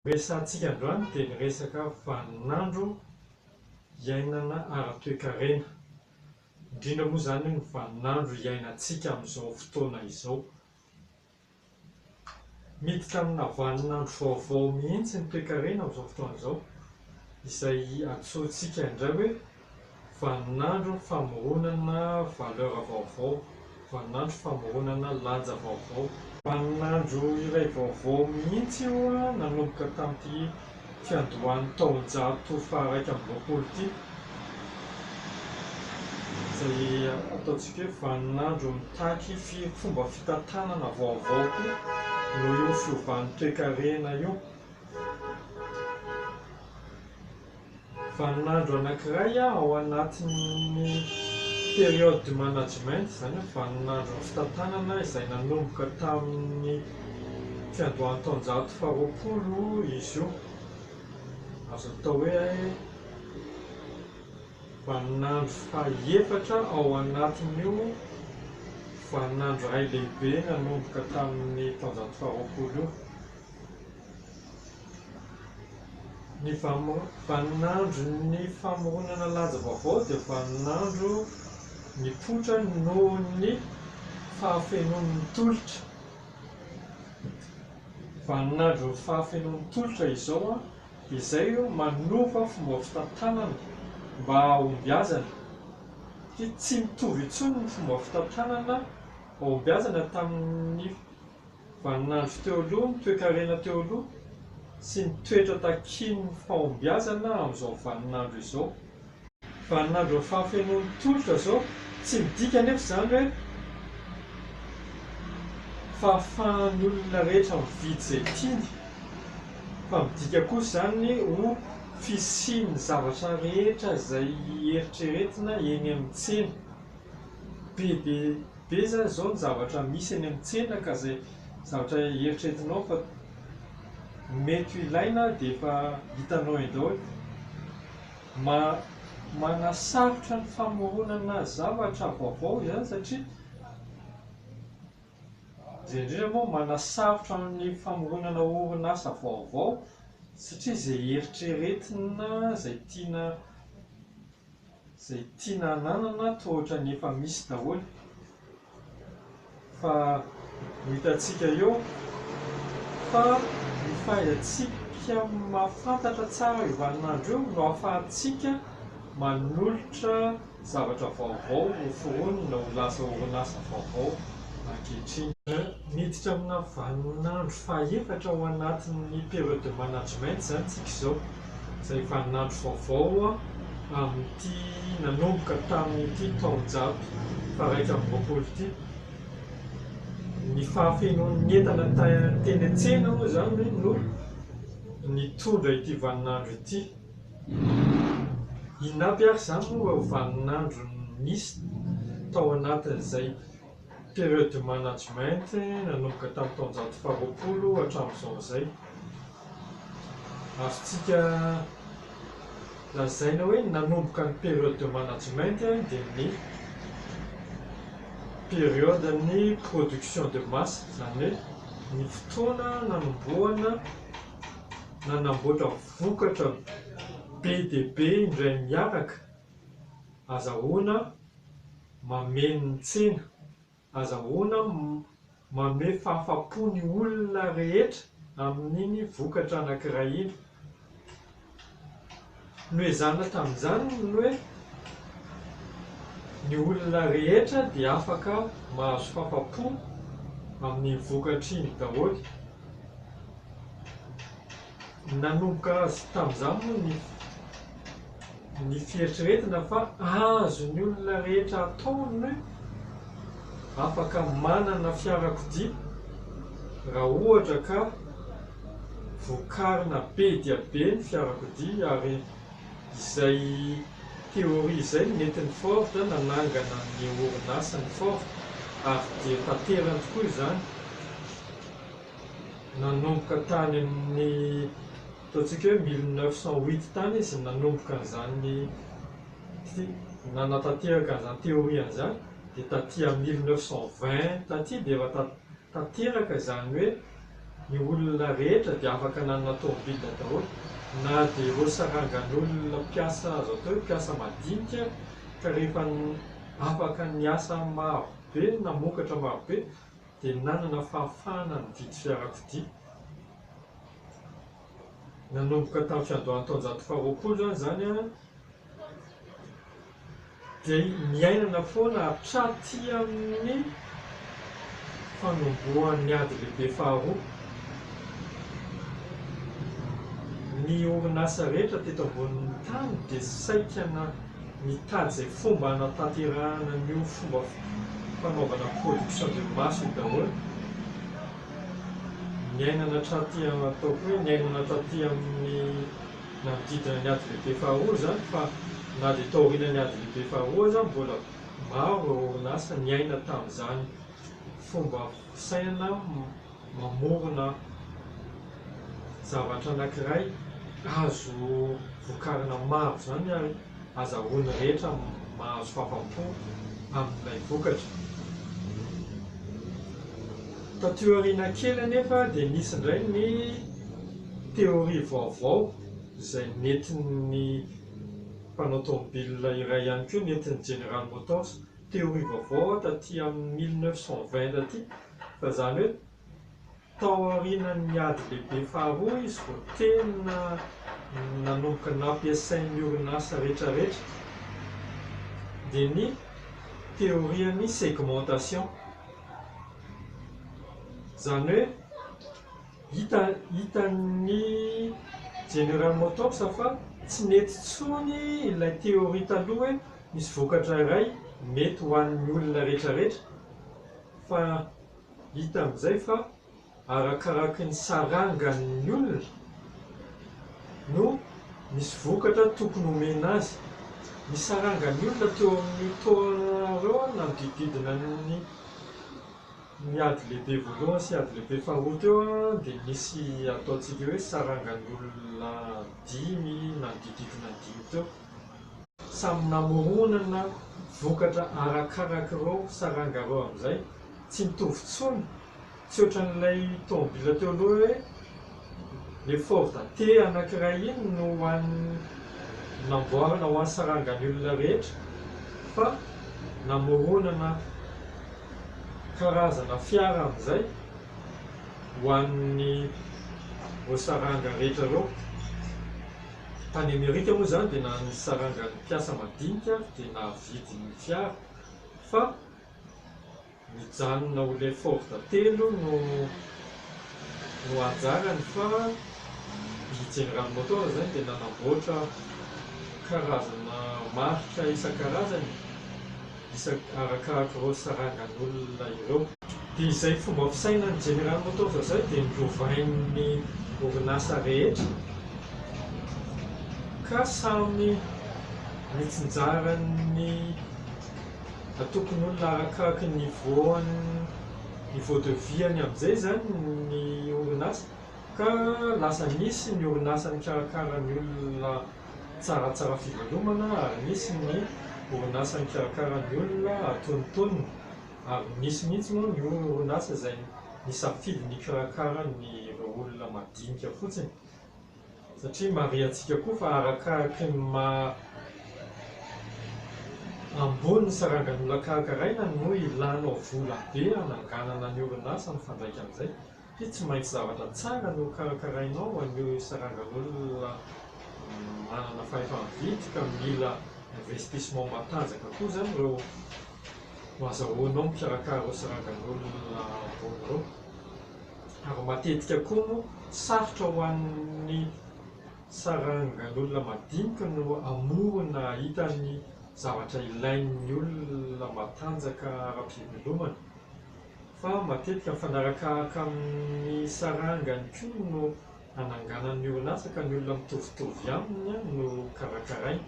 Resahantsika androany dia ny resaka vaninandro iainana ara-toekarena, indrindra moa izany ny vaninandro iainantsika amin'izao fotoana izao. Miditra amina vaninandro vaovao mihitsy ny toekarena amin'izao fotoana izao, izay antsointsika indray hoe Vaninandro famoronana valeur vaovao, vaninandro famoronana lanja vaovao. Vaninandro iray vaovao mihitsy io nanomboka tamin'ity fiandohan'ny taonjato faharaika amby roapolo ity, izay ataontsika hoe vaninandro mitaky fomba fitantanana vaovao koa noho io fiovan'ny toekarena io. vaninandro anankiray ao anatin'ny période du management, izany hoe vaninandron'ny fitantanana izay nanomboka tamin'ny fiandohan'ny taonjato faharoapolo izy io. Azo atao hoe vaninandro fahaefatra ao anatin'io vaninandro iray lehibe nanomboka tamin'ny taonjato faharoapolo io. Ny vaninandron'ny famoronana lanja vaovao dia vaninandro nipoitra noho ny fahafenoan'ny tolotra. Vaninandron'ny fahafenoan'ny tolotra izao izay manova fomba fitantanana mba hahombiazana. Satria tsy mitovy intsony ny fomba fitantanana hahombiazana tamin'ny Vaninandro teo aloha, ny toekarena teo aloha, sy ny toetra takian'ny fahombiazana amin'izao vaninandro izao. Vaninandron'ny fahafenoan'ny tolotra izao. Tsy midika anefa izany hoe fahafahan'ny olona rehetra mividy izay tiany, fa midika kosa izany ny ho fisian'ny zavatra rehetra izay eritreretina eny amin'ny tsena. Be dia. be zany izao ny zavatra misy eny amin'ny tsena ka izay zavatra eritreretinao fa mety ho ilaina dia efa hitanao eny daholo. Manasarotra ny famoronana zavatra vaovao izany satria izay indrindra moa manasarotra ny famoronana orinasa vaovao satria izay eritreretina, izay tiana. Izay tiana hananana toa ohatran'ny efa misy daholo fa ho hitantsika eo fa ny fahaizantsika mahafantatra tsara io vaninandro io no ahafahantsika manolotra zavatra vaovao ho foronina ho lasa orinasa vaovao ankehitriny. Miditra amina vaninandro faha-efatra ao anatin'ny période de management izany isika izao. izay vaninandro vaovao amin'ity nanomboka tamin'ity taonjato faha-iraika amby roapolo ity. Ny fahafenoan'ny entana teny an-tsena moa izany no nitondra ity vaninandro ity. Inona aby ary izany moa ireo vaninandro nisy tao anatin'izay? Période de management nanomboka tamin'ny taonjato faharoapolo hatramin'izao izay. Azontsika lazaina hoe ny nanomboka ny période de management dia ny période-n'ny production de masse, izany hoe ny fotoana nanombohana nanamboatra vokatra be dia be indray miaraka. Azahoana mameno ny tsena, azahoana mamehy fahafapo ny olona rehetra amin'iny vokatra anankiray iny. Noezahana tamin'izany ny hoe ny olona rehetra dia afaka mahazo fahafapo amin'iny vokatra iny daholo. Nanomboka tamin'izany moa ny. ny fieritreretina fa azon'ny olona rehetra atao ny hoe afaka manana fiarakodia raha ohatra ka vokarina be dia be ny fiarakodia ary izay théorie izay no nentin'i Ford nanangana ny orinasany Ford ary dia tanterany tokoa izany nanomboka tany amin'ny Ataontsika hoe mille neuf cent huit tany izy no nanomboka an'izany nanatanteraka an'izany théorie-ny izany, dia taty amin'ny mille neuf cent vingt taty dia efa ta- tanteraka izany hoe ny olona rehetra dia afaka nanana tômôbila daholo, na dia ireo sarangan'olona mpiasa azo atao hoe mpiasa madinika, ka rehefa afaka niasa marobe, namokatra marobe, dia nanana fahafahana nividy fiarakodia. Nanomboka tamin'ny fiandohan'ny taonjato faharoapolo izany izany an, dia niainana foana hatraty amin'ny fanombohan'ny ady lehibe faharoa. Ny orinasa rehetra teto ambonin'ny tany dia saika na mitady izay fomba hanatanterahana an'io fomba fanaovana production de masse io daholo, niainana hatraty ataoko hoe niainana hatraty amin'ny nanodidina ny ady lehibe faharoa izany fa na dia taorianan'ny ady lehibe faharoa aza mbola maro ireo orinasa niaina tamin'izany fomba fisainana mamorona zavatra anankiray azo vokarina maro izany ary azahoan'ny rehetra mahazo fahafam-po amin'ilay vokatra. Taty aoriana kely anefa dia nisy indray ny théorie vaovao izay nentin'ny mpanao tomobilina iray ihany koa, nentin'ny General Motors, théorie vaovao taty amin'ny mille neuf cent vingt taty, Fa izany hoe tao aorianan'ny ady lehibe faharoa izy vao tena nanomboka nampiasain'ny orinasa rehetrarehetra dia ny teorian'ny segmentation. Izany hoe hita hitan'ny General Motors fa tsy nety intsony ilay teoria taloha hoe misy vokatra iray mety ho an'ny olona rehetrarehetra. Fa hita amin'izay fa arakaraky ny sarangan'ny olona no misy vokatra tokony homena azy. Ny sarangan'ny olona teo amin'io taona ireo nanodidididina ny ny ady lehibe voalohany sy ady lehibe faharoa teo dia nisy ataontsika hoe sarangan'ny olona dimy nanodidididina ny dimy teo. Samy namoronana vokatra arakaraka ireo saranga ireo amin'izay. Tsy mitovy intsony. Tsy ohatran'ilay tomobila teo aloha hoe le Ford T anankiray iny no ho an'ny namboarina ho an'ny sarangan'ny olona rehetra fa namoronana karazana fiara amin'izay ho an'ireo saranga rehetra ireo. Tany Amerika moa izany dia na ny sarangan'ny mpiasa madinika ary dia nahavidy ny fiara fa nijanona ho le Ford telo no no anjarany fa i General Motors izany dia nanamboatra karazana marika isan-karazany. isaky arakaraka ireo sarangan'olona ireo. Dia izay fomba fisainan'ny General Motors izay dia norovain'ny orinasa rehetra ka samy nitsinjaran'ny antokon'olona arakaraka ny niveau-ny, niveau de vie-ny amin'izay izany ny orinasa ka lasa nisy ny orinasa nikarakara ny olona Tsaratsara fivelomana ary misy ny orinasa mikarakara ny olona atonontonony ary misy mihitsy moa ny orinasa izay nisafidy ny hikarakara ny ireo olona madinika fotsiny satria marihantsika koa fa arakaraky ny maha ambony ny sarangan'olona karakaraina no ilànao vola be hananganana ny orinasa mifandraika amin'izay. Satria tsy maintsy zavatra tsara no karakarainao ho an'io sarangan'olona manana fahefa-mividy ka mila investissement matanjaka koa izany ireo no azahoanao mikarakara ireo sarangan'olona ambony ireo. Ary matetika koa moa sarotra ho an'ny sarangan'olona madinika no hamory na hahita ny zavatra ilain'ny olona matanjaka ara-pivelomana. fa matetika mifanarakaaka amin'ny sarangany koa no ananganany ny orinasa ka ny olona mitovitovy aminy no karakarainy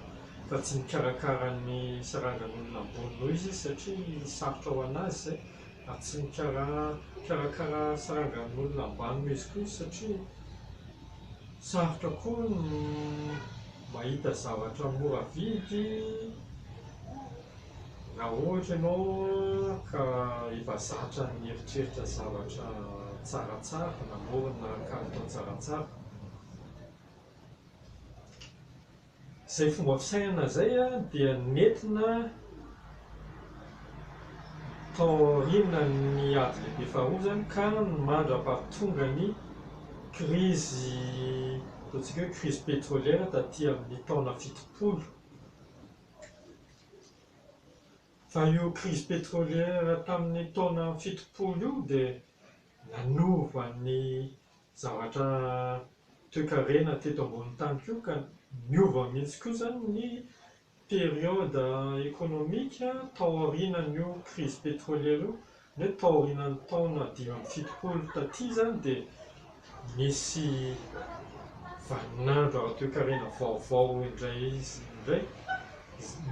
fa tsy mikarakara ny sarangan'olona ambony noho izy satria sarotra ho anazy izay ary tsy mikarakara sarangan'olona ambany noho izy koa satria sarotra koa ny mahita zavatra mora vidy Raha ohatra ianao ka efa zatra nieritreritra zavatra tsaratsara, namorona kalitao tsaratsara, izay fomba fisainana izay dia nentina tao aorianan'ny ady lehibe faharoa izany ka mandra-pahatonga ny krizy, ataontsika hoe krizy petroliera taty amin'ny taona fitopolo. Fa io crise pétrolière tamin'ny taona fitopolo io dia nanova ny zavatra toekarena teto ambonin'ny tany koa ka niova mihitsy koa izany ny période économique tao aorianan'io crise pétrolière io Nefa taorianan'ny taona dimy amby fitopolo taty izany dia nisy vaninandro ara-toekarena vaovao indray izy indray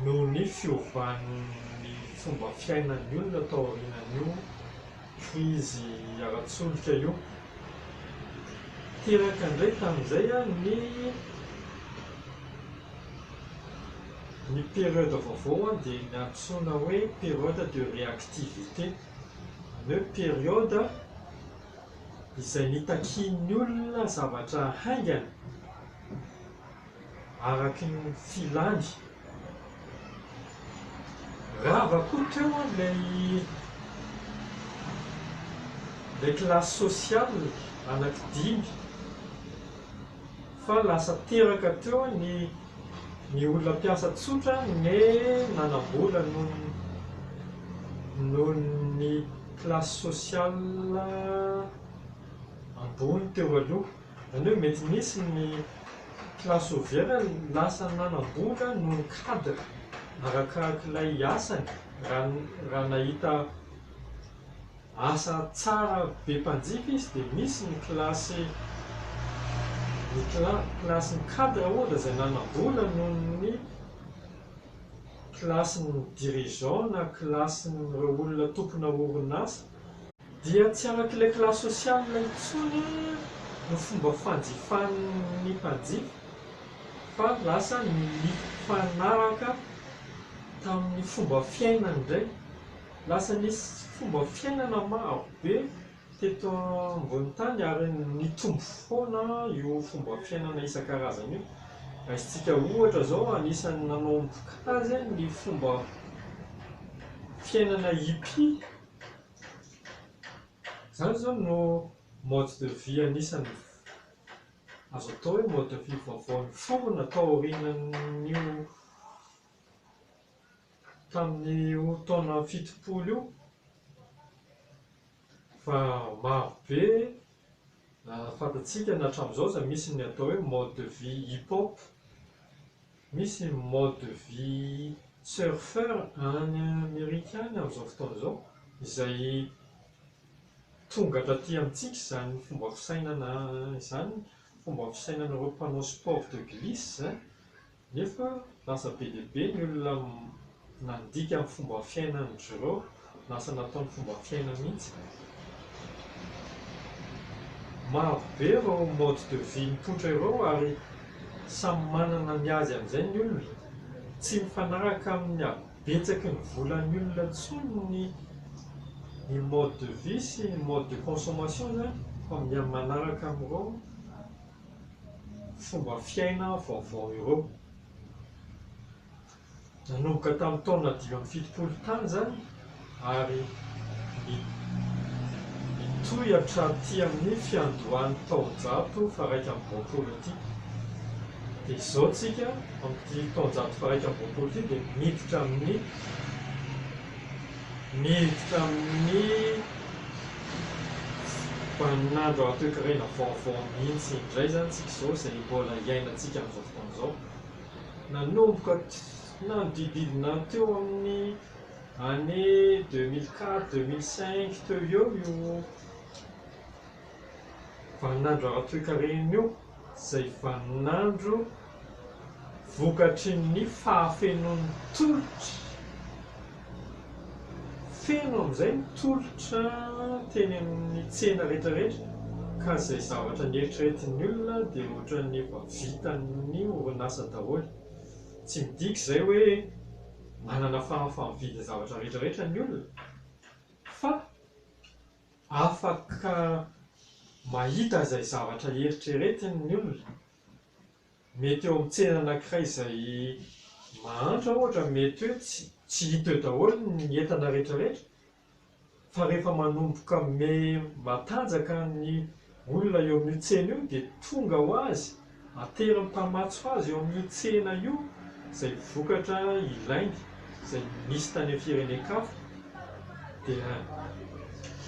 noho ny fiovan'ny fomba fiainan'ny olona taorianan'io krizy ara-tsolika io. Teraka indray tamin'izay ny. Ny période vaovao dia ny antsoina hoe période de réactivité. Izany hoe période izay nitakian'ny olona zavatra haingana araka ny filany. Rava koa teo ilay classe sociale anankidimy. fa lasa teraka teo ny ny olona mpiasa tsotra ne nanam-bola noho ny noho ny classe sociale ambony teo aloha, izany hoe mety nisy ny classe ouvrière lasa nanam-bola noho ny cadre arakarak'ilay asany raha raha nahita Asa tsara be mpanjifa izy dia misy ny kilasy ny cla kilasin'ny cadre ohatra izay nanam-bola noho ny kilasin'ny dirigeants na kilasin'ireo olona tompona orinasa, dia tsy arak'ilay classe sociale intsony no fomba fanjifan'ny mpanjifa fa lasa nifanaraka tamin'ny fomba fiainany indray. Lasa nisy fomba fiainana maro be teto ambony tany ary nitombo foana io fomba fiainana isan-karazany io. Raisintsika ohatra izao, anisan'ny nanomboka azy ny fomba fiainana hippie. Izany izao no mode de vie anisan'ny azo atao hoe mode de vie vaovao niforona taorianan'io. tamin'io taona fitopolo io fa maro be fantatsika na hatramin'izao aza misy ny atao hoe mode de vie hip hop, misy ny mode de vie surfeur any Amerika any amin'izao fotoana izao izay tonga taty amintsika izany fomba fisainana izany, fomba fisainan'ireo mpanao sport de glisse. Nefa lasa be dia be ny olona nandika ny fomba fiainan'i Jiro, lasa nataony fomba fiaina mihitsy. Maro be ireo mode de vie mipoitra ireo ary samy manana ny azy amin'izay ny olona. Tsy mifanaraka amin'ny habetsaky ny volan'ny olona intsony ny ny mode de vie sy ny mode de consommation izany fa miha-manaraka amin'ireo. fomba fiaina vaovao ireo. Nanomboka tamin'ny taona dimy amby fitopolo tany izany ary mitohy hatraty amin'ny fiandohan'ny taonjato faharaika amby roapolo ity. Dia izao tsika amin'ity taonjato faharaika amby roapolo ity dia miditra amin'ny Niditra amin'ny vaninandro ara-toekarena vaovao mihitsy indray izany isika izao, izay mbola iainantsika amin'izao fotoana izao. Nanomboka nanodidididina teo amin'ny année deux mille quatre, deux mille cinq teo eo io vaninandro ara-toekarena io. izay vaninandro vokatry ny fahafenoan'ny tolotra, feno amin'izay ny tolotra teny amin'ny tsena rehetra rehetra ka izay zavatra neritreretin'ny olona dia ohatran'ny efa vitan'ny orinasa daholo, tsy midika izay hoe manana fahafaham-mividy ny zavatra rehetra rehetra ny olona fa. Afaka mahita izay zavatra eritreretiny ny olona. Mety eo amin'ny tsena anankiray izay mahantra ohatra, mety hoe tsy tsy hita eo daholo ny entana rehetrarehetra fa rehefa manomboka me matanjaka ny Olona eo amin'io tsena io dia tonga ho azy, ateriny mpamatso azy eo amin'io tsena io izay vokatra ilainy izay misy tany amin'ny firenen-kafa dia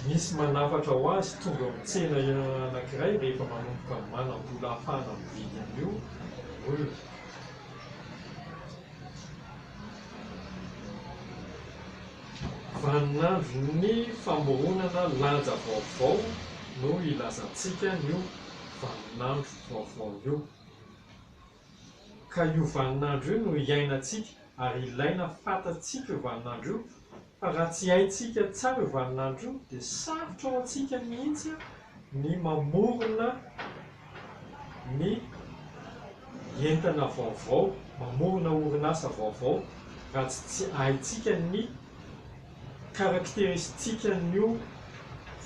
misy manafatra ho azy tonga eo amin'ny tsena anankiray rehefa manomboka manam-bola ahafahana mividy an'io olona Vaninandron'ny famoronana lanja vaovao no ilazantsika an'io vaninandro vaovao io. Ka io vaninandro io no iainantsika ary ilaina fantatsika io vaninandro io fa raha tsy haintsika tsara io vaninandro io dia sarotra ho antsika mihitsy ny mamorona ny entana vaovao, mamorona orinasa vaovao raha tsy tsy haintsika ny karakteristikan'io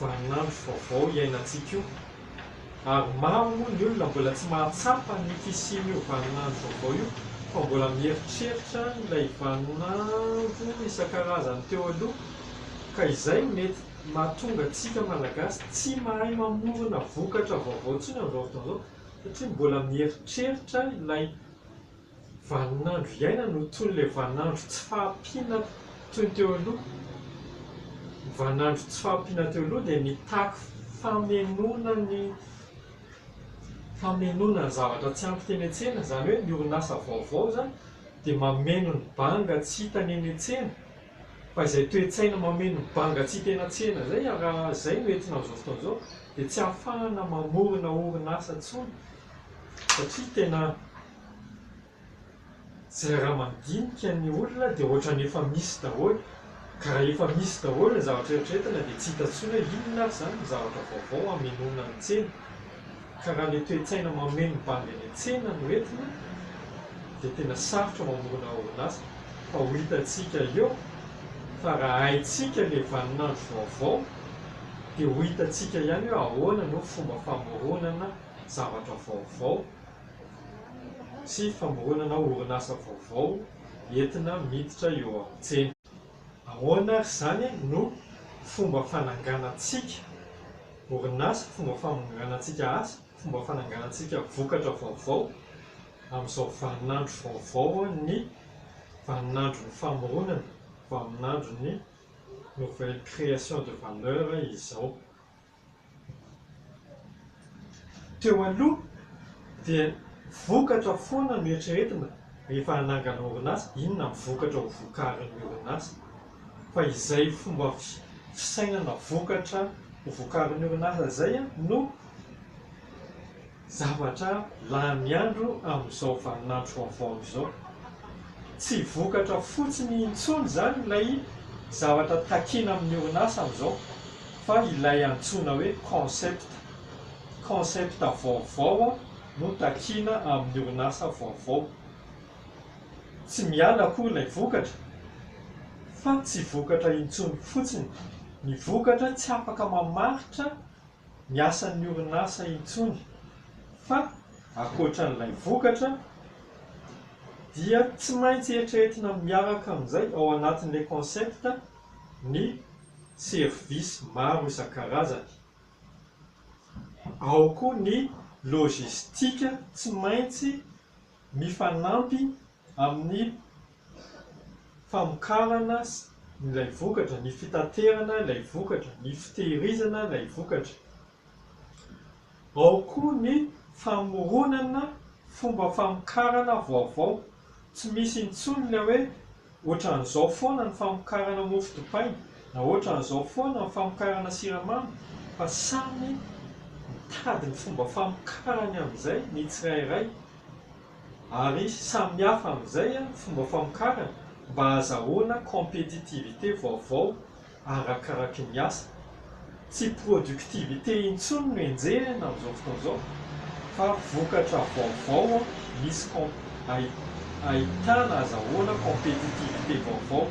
vaninandro vaovao iainantsika io. Ary maro moa ny olona mbola tsy mahatsapa ny fisian'io vaninandro vaovao io fa mbola mieritreritra ilay vaninandro isan-karazany teo aloha ka izay mety mahatonga antsika Malagasy tsy mahay mamorona vokatra vaovao intsony amin'izao fotoana izao satria mbola mieritreritra ilay vaninandro iainana ho toy ilay vaninandro tsy fahampiana toy ny teo aloha. Ny vaninandro tsy fahampiana teo aloha dia mitaky famenoana ny famenoana ny zavatra tsy ampy teny an-tsena, izany hoe ny orinasa vaovao izany dia mameno ny banga tsy hitany eny an-tsena. Fa izay toe-tsaina mameno banga tsy tena tsena izay ary izay no entina amin'izao fotoana izao dia tsy ahafahana mamorona orinasa intsony satria tena izay raha mandinika ny olona dia ohatran'ny efa misy daholo ka raha efa misy daholo ny zavatra eritreretina dia tsy hita intsony hoe inona ary izany ny zavatra vaovao hamenoana ny tsena. Ka raha ilay toe-tsaina mameno ny bandy any an-tsena no entina dia tena sarotra ny mamorona orinasa fa ho hitantsika eo fa raha haintsika ilay vaninandro vaovao dia ho hitantsika ihany hoe ahoana no fomba famoronana zavatra vaovao sy famoronana orinasa vaovao entina miditra eo amin'ny tsena. Ahoana ary izany no fomba fananganantsika orinasa, fomba fananganantsika asa, fomba fananganantsika vokatra vaovao amin'izao vaninandro vaovao ny vaninandron'ny famoronana, vaninandron'ny nouvelle création de valeur izao. Teo aloha dia vokatra foana no eritreretina rehefa hanangana orinasa, inona ny vokatra ho vokarin'ny orinasa fa izay fomba fisainana vokatra ho vokarin'ny orinasa izay no Zavatra lany andro amin'izao vaninandro vaovao izao. Tsy vokatra fotsiny intsony izany ilay zavatra takiana amin'ny orinasa amin'izao fa ilay antsoina hoe concept. Concept vaovao no takiana amin'ny orinasa vaovao. Tsy miala akory ilay vokatra fa tsy vokatra intsony fotsiny. Ny vokatra tsy afaka mamaritra ny asan'ny orinasa intsony fa ankoatran'ilay vokatra dia tsy maintsy eritreretina miaraka amin'izay ao anatin'ilay concept ny services maro isan-karazany. Ao koa ny logistique tsy maintsy mifanampy amin'ny famokarana ilay vokatra, ny fitaterana ilay vokatra, ny fitehirizana ilay vokatra. Ao koa ny famoronana fomba famokarana vaovao. Tsy misy intsony ilay hoe ohatran'izao foana ny famokarana mofo dipaina na ohatran'izao foana ny famokarana siramamy fa samy mitady ny fomba famokarany amin'izay ny tsirairay. Ary samy hafa amin'izay ny fomba famokarana mba hahazahoana compétitivité vaovao arakaraky ny asa. Tsy productivité intsony no enjehina amin'izao fotoana izao fa vokatra vaovao misy ahitana ahazahoana compétitivité vaovao.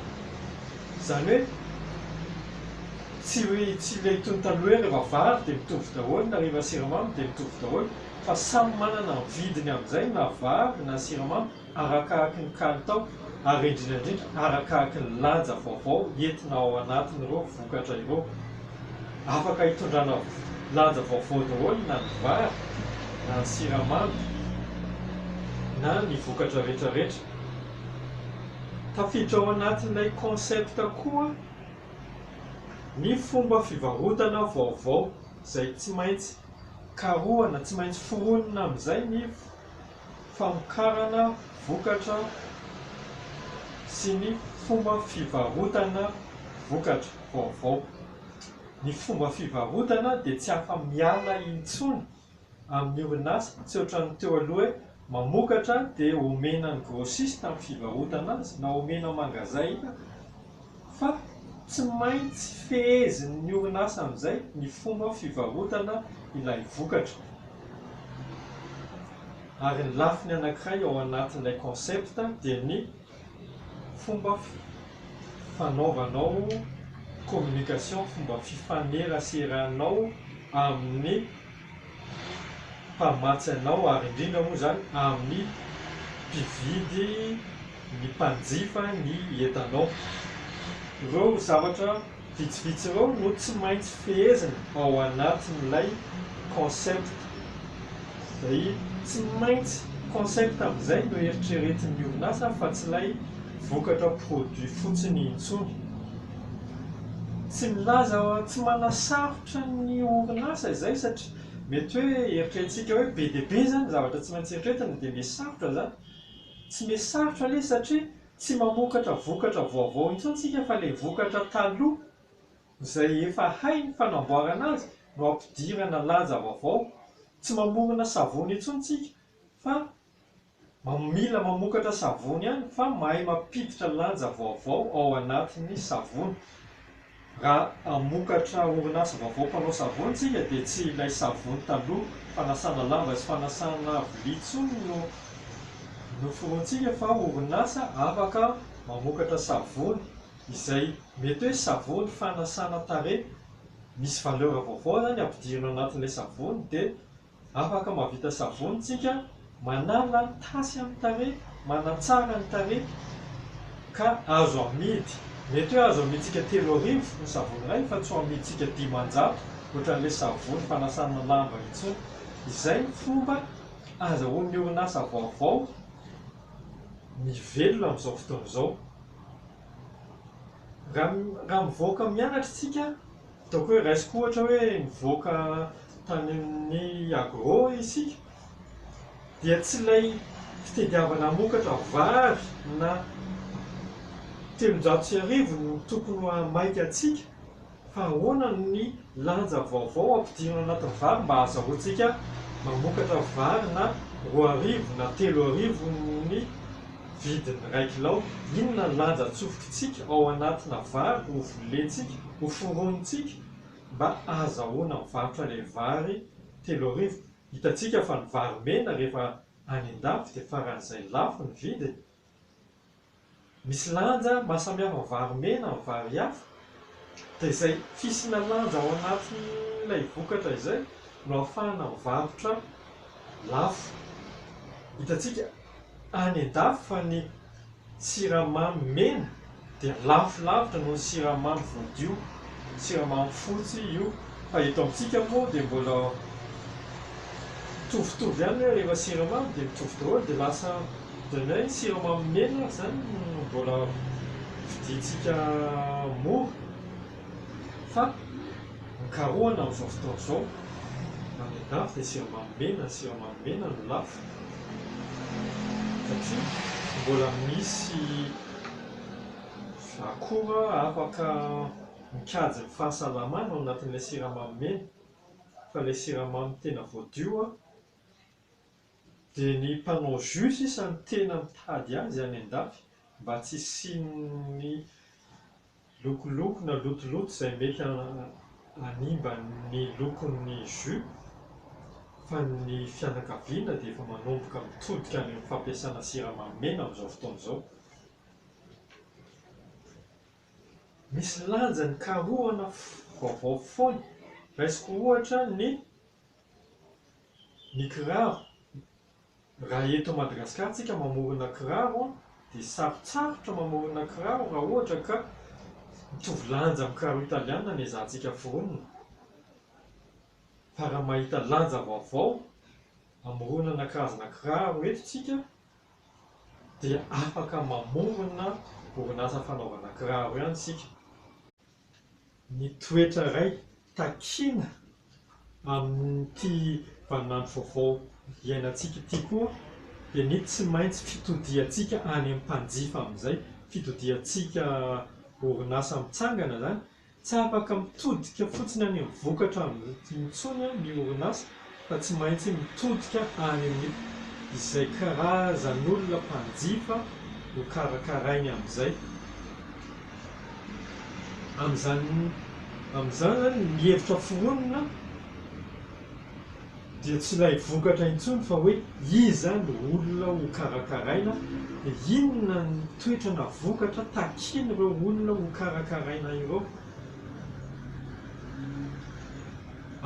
Izany hoe tsy hoe tsy ilay toy ny taloha hoe rehefa vary dia mitovy daholo na rehefa siramamy dia mitovy daholo. fa samy manana ny vidiny amin'izay na vary na siramamy arakaraky ny kalitao ary indrindra indrindra arakaraky ny lanja vaovao entina ao anatin'ireo vokatra ireo. Afaka hitondrana lanja vaovao daholo na ny vary na ny siramamy na ny vokatra retraretra. Tafiditra ao anatin'ilay concept koa ny fomba fivarotana vaovao izay tsy maintsy. karohana tsy maintsy foronina amin'izay ny famokarana vokatra sy ny fomba fivarotana vokatra vaovao. Ny fomba fivarotana dia tsy afa-miala intsony amin'ny orinasa, tsy ohatran'ny teo aloha hoe. Mamokatra dia omena ny grossiste amin'ny fivarotana azy na omena mangazaina fa tsy maintsy fehezin'ny orinasa amin'izay ny fomba fivarotana ilay vokatra ary ny lafiny anankiray ao anatin'ilay concept dia ny Fomba fanaovanao communication, fomba fifaneraseranao amin'ny mpamatsy anao ary indrindra moa izany amin'ny mpividy, ny mpanjifa ny entanao. Ireo zavatra. Vitsivitsy ireo no tsy maintsy fehezina ao anatin'ilay concept. Izay tsy maintsy concept amin'izay no eritreretin'ny orinasa fa tsy ilay vokatra produit fotsiny intsony. Tsy milaza tsy manasarotra ny orinasa izay satria mety hoe eritreretintsika hoe be dia be izany zavatra tsy maintsy eritreretina dia miha sarotra izany. Tsy miha sarotra anie satria Tsy mamokatra vokatra vaovao intsony tsika fa ilay vokatra taloha izay efa hay ny fanamboarana azy no ampidirana laja vaovao. Tsy mamorona savony intsony tsika fa mila mamokatra savony ihany fa mahay mampiditra lanja vaovao ao anatin'ny savony. Raha hamokatra orinasa vaovao mpanao savony isika dia tsy ilay savony taloha fanasana lamba sy fanasana vilia intsony no noforonintsika fa orinasa afaka mamokatra savony izay mety hoe savony fanasana tarehy misy valeur vaovao izany ampidirina ao anatin'ilay savony dia Afaka mahavita savony tsika, manala ny tasy amin'ny tarehy, manatsara ny tarehy ka azo amidy. Mety hoe azo amidintsika telo arivo ny savony iray fa tsy ho amidintsika dimanjato ohatran'ilay savony fanasana lamba intsony. Izay ny fomba azahoan'ny orinasa vaovao mivelona amin'izao fotoana izao. Raha mivoaka mianatra isika, ataoko hoe raisiko ohatra hoe nivoaka tany amin'ny agro isika, dia tsy ilay fitadiavana hamokatra vary na telonjato sy arivo no tokony ho maika antsika, Fa ahoana ny lanja vaovao ampidirina anatin'ny vary mba hahazahoantsika mamokatra vary na roa arivo na telo arivo ny vidin'ny iray kilao? Inona ny lanja atsofokintsika ao anatina vary ho volentsika, ho foronintsika mba hahazahoana mivarotra ilay vary telo arivo? Hitantsika fa ny vary mena rehefa any an-dafy dia faran'izay lafo ny vidiny. Misy lanja mahasamihafa vary mena amin'ny vary hafa, dia izay fisiana lanja ao anatin'ilay vokatra izay no ahafahana mivarotra lafo. Hitantsika any an-dafy fa ny siramamy mena Dia lafo lavitra noho ny siramamy voadio, siramamy fotsy io, fa eto amintsika moa dia mbola mitovitovy ihany hoe rehefa siramamy dia mitovy daholo dia lasa ohatran'ny hoe siramamy mena ary izany no mbola vidiantsika mora fa mikarohana amin'izao fotoana izao any andafy dia siramamy mena, siramamy mena no lafo satria mbola misy Akora afaka mikajy ny fahasalamana ao anatin'ilay siramamy mena fa ilay siramamy tena voadio dia ny mpanao jus sisa no tena mitady azy any an-dafy mba tsy hisian'ny Lokoloko na lotoloto izay mety hanimba ny lokon'ny jus fa ny fianakaviana dia efa manomboka mitodika any amin'ny fampiasana siramamy mena amin'izao fotoana izao. Misy lanjany karohana vaovao foana. Raisiko ohatra ny ny kiraro. Raha eto Madagasikara tsika mamorona kiraro dia sarotsarotra mamorona kiraro raha ohatra ka mitovy lanja amin'ny kiraro italiana ny ezahantsika foronina fa raha mahita lanja vaovao amoronana karazana kiraro eto tsika dia afaka mamorona orinasa fanaovana kiraro ihany tsika. Ny toetra iray takiana amin'ity vaninandro vaovao iainantsika ity koa dia ny tsy maintsy fitodiantsika any amin'ny mpanjifa amin'izay, fitodiantsika orinasa mitsangana izany. Tsy afaka mitodika fotsiny any amin'ny vokatra intsony ny orinasa fa tsy maintsy mitodika any amin'ny izay karazan'olona mpanjifa nokarakarainy amin'izay. Amin'izany amin'izany izany ny hevitra foronina dia tsy ilay vokatra intsony fa hoe iza no olona ho karakaraina dia inona ny toetra na vokatra takian'ireo olona ho karakaraina ireo.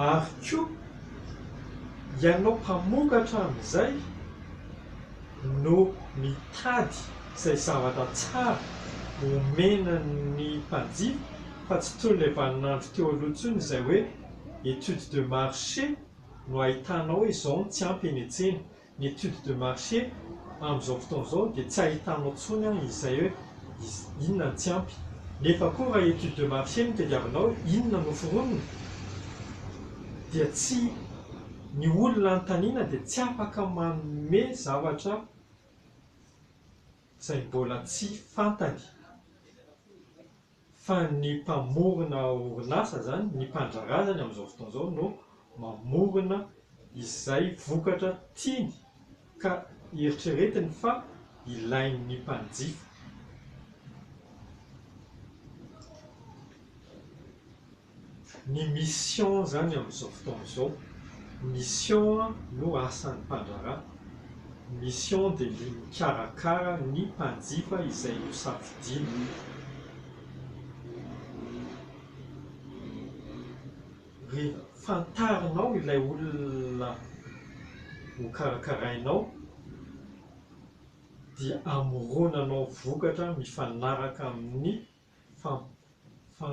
Ary koa ianao mpamokatra amin'izay no mitady izay zavatra tsara omena ny mpanjifa fa tsy toy ilay vaninandro teo aloha intsony izay hoe étude de marché no ahitanao hoe izao no tsy ampy eny an-tsena. Ny étude de marché amin'izao fotoana izao dia tsy ahitanao intsony an izay hoe inona no tsy ampy. Nefa koa raha étude de marché no tadiavinao hoe inona no foronina dia tsy, ny olona anontaniana dia tsy afaka manome zavatra izay mbola tsy fantany. Fa ny mpamorona orinasa zany, ny mpandraharaha zany amin'izao fotoana izao no mamorona izay vokatra tiany ka eritreretiny fa ilain'ny mpanjifa. Ny mission izany amin'izao fotoana izao, mission no asan'ny mpandraharaha, mission dia ny mikarakara ny mpanjifa izay nosafidiany. Rehefa fantarinao ilay olona hokarakarainao dia amoronanao vokatra mifanaraka amin'ny fa fa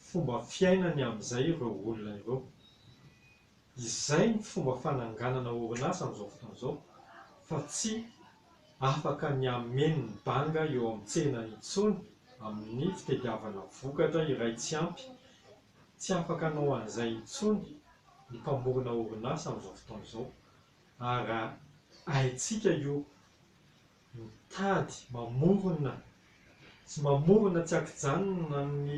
fomba fiainany amin'izay ireo olona ireo. Izay ny fomba fananganana orinasa amin'izao fotoana izao fa tsy afaka ny hameno ny banga eo amin'ny tsena intsony amin'ny fitediavana vokatra iray tsy ampy. Tsy afaka hanao an'izay intsony ny mpamorona orinasa amin'izao fotoana izao ary haintsika io Mitady, mamorona sy mamorona tsy an-kijanona ny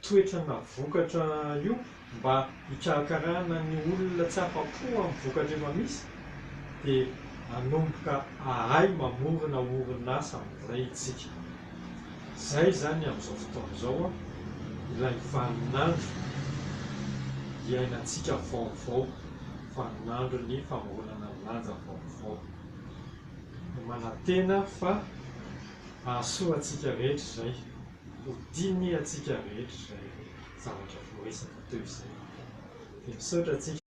toetra na vokatra io mba hikarakarana ny olona tsy afa-po amin'ny vokatra efa misy dia hanomboka hahay mamorona orinasa indray isika. Izay izany amin'izao fotoana izao ilay vaninandro iainantsika vaovao, vaninandron'ny famoronana lanja vaovao. dia manantena fa hahasoa antsika rehetra izay, ho tiany antsika rehetra izay zavatra voaresaka teo izay. Dia misaotra antsika.